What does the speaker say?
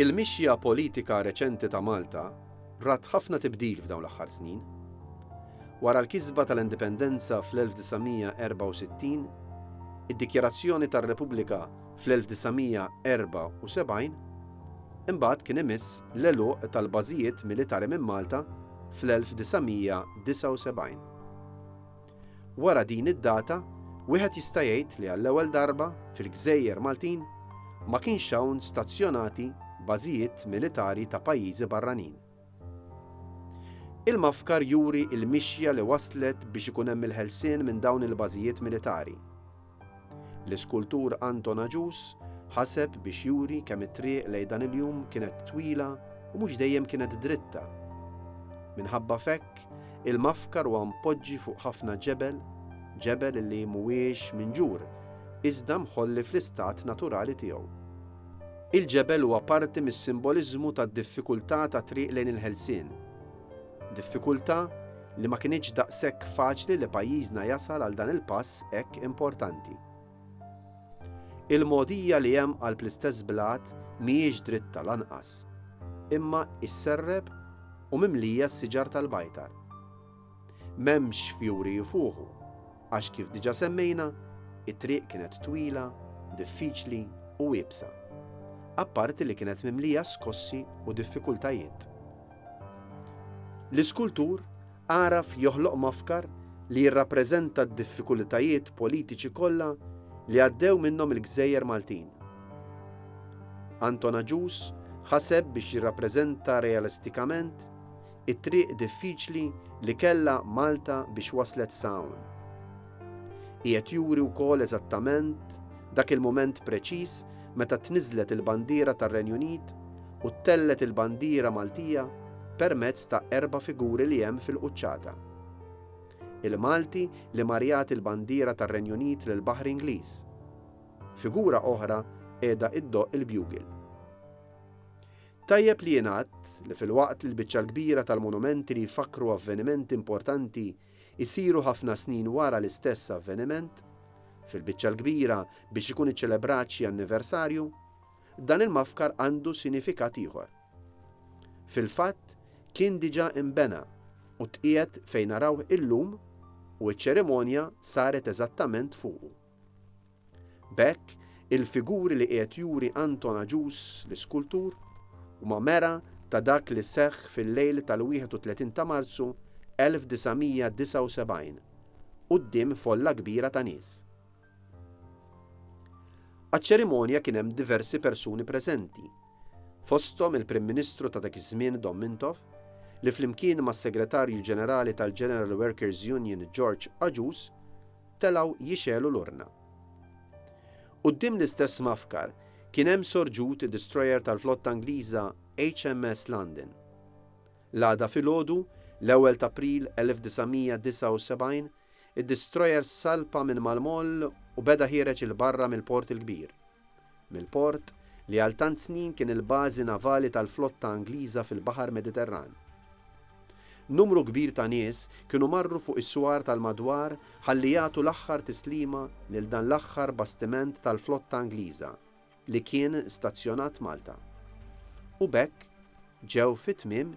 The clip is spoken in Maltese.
Il-mixja politika reċenti ta' Malta rat ħafna tibdil f'dawn l-aħħar snin. Wara l-kisba tal-Indipendenza fl-1964, id-dikjarazzjoni tar-Repubblika fl-1974, imbagħad kien imiss l-għeluq tal-bażijiet militari minn Malta fl-1979. Wara din id-data, wieħed jista' jgħid li għall-ewwel darba fil-gżejjer Maltin ma kienx hawn stazzjonati bażijiet militari ta' pajjiżi barranin. Il-mafkar juri l-mixja li wasslet biex ikun hemm il-ħelsien minn dawn il-bażijiet militari. L-iskultur Anton Agius ħaseb biex juri kemm it-triq lejn dan il-jum kienet twila u mhux dejjem kienet dritta. Minħabba f'hekk, il-Mafkar huwa mpoġġi fuq ħafna ġebel, ġebel li mhuwiex minġur, iżda mħolli fl-istat naturali tiegħu. Il-ġebel huwa parti mis-simboliżmu tad-diffikultà tat-triq lejn il-ħelsien. Diffikultà li ma kinitx daqshekk faċli li pajjiżna jasal għal dan il-pass hekk importanti. Il-mogħdija li hemm qalb l-istess blat mhijiex dritta lanqas, imma isserreb u mimlija s-siġar tal-bajtar. M'hemmx fjuri jfuħu. għax kif diġà semmejna, it-triq kienet twila, diffiċli u iebsa. Apparti li kienet mimlija skossi u diffikultajiet. L-iskultur għaraf joħloq mafkar li jirrappreżenta d-diffikulitajiet politiċi kollha li għaddew minnhom il-gżejjer Maltin. Anton Agius ħaseb biex jirrappreżenta realistikament It-triq diffiċli li kellha Malta biex waslet sa hawn. Qiegħed juri wkoll eżattament dak il-mument preċiż meta tniżżlet il-bandiera tar-Renju Unit u ttellgħet il-bandiera Maltija permezz ta' erba' figuri li hemm fil-quċċata. Il-Malti li mar jagħti l-bandiera tar-Renju Unit lill-baħri Ingliż. Figura oħra qiegħda iddoqq il-bugel. Tajjeb li jingħad li filwaqt li l-biċċa l-kbira tal-monumenti li jfakkru avvenimenti importanti jsiru ħafna snin wara l-istess avveniment, fil-biċċa l-kbira biex ikun iċċelebrat xi anniversarju, dan il-mafkar għandu sinifikat ieħor. Fil-fatt, kien diġà inbena u tqiegħed fejn narawh illum u ċ-ċerimonja saret eżattament fuqu. B'hekk, il-figuri li qiegħed juri Anton Agius, l-iskultur, huma mera ta' dak li seħħ fil-lejl tal-31 ta' Marzu 1979, quddiem folla kbira ta' nies. Għaċ-ċerimonja kien hemm diversi persuni preżenti, fosthom il-Prim Ministru ta' dak iż-żmien Dom Mintoff, li flimkien mas-Segretarju Ġenerali tal-General Workers' Union George Agius, telgħu jixegħlu l-urna. Quddiem l-istess mgħaffkar kien hemm sorġut id-distrojer tal-flotta Ingliża HMS London. L-għada filgħodu, l-ewwel t'April 1979, id-distrojer salpa minn mal-moll u beda ħiereġ 'il barra mill-Port il-Kbir. mill-port li għal tant snin kien il-bażi navali tal-flotta Angliża fil-Baħar Mediterran. Numru kbir ta' nies kienu marru fuq is-swar tal-madwar ħalli jagħtu l-aħħar tislima lil dan l-aħħar bastiment tal-flotta Angliża li kien stazzjonat Malta. U b'hekk ġew fi tmiem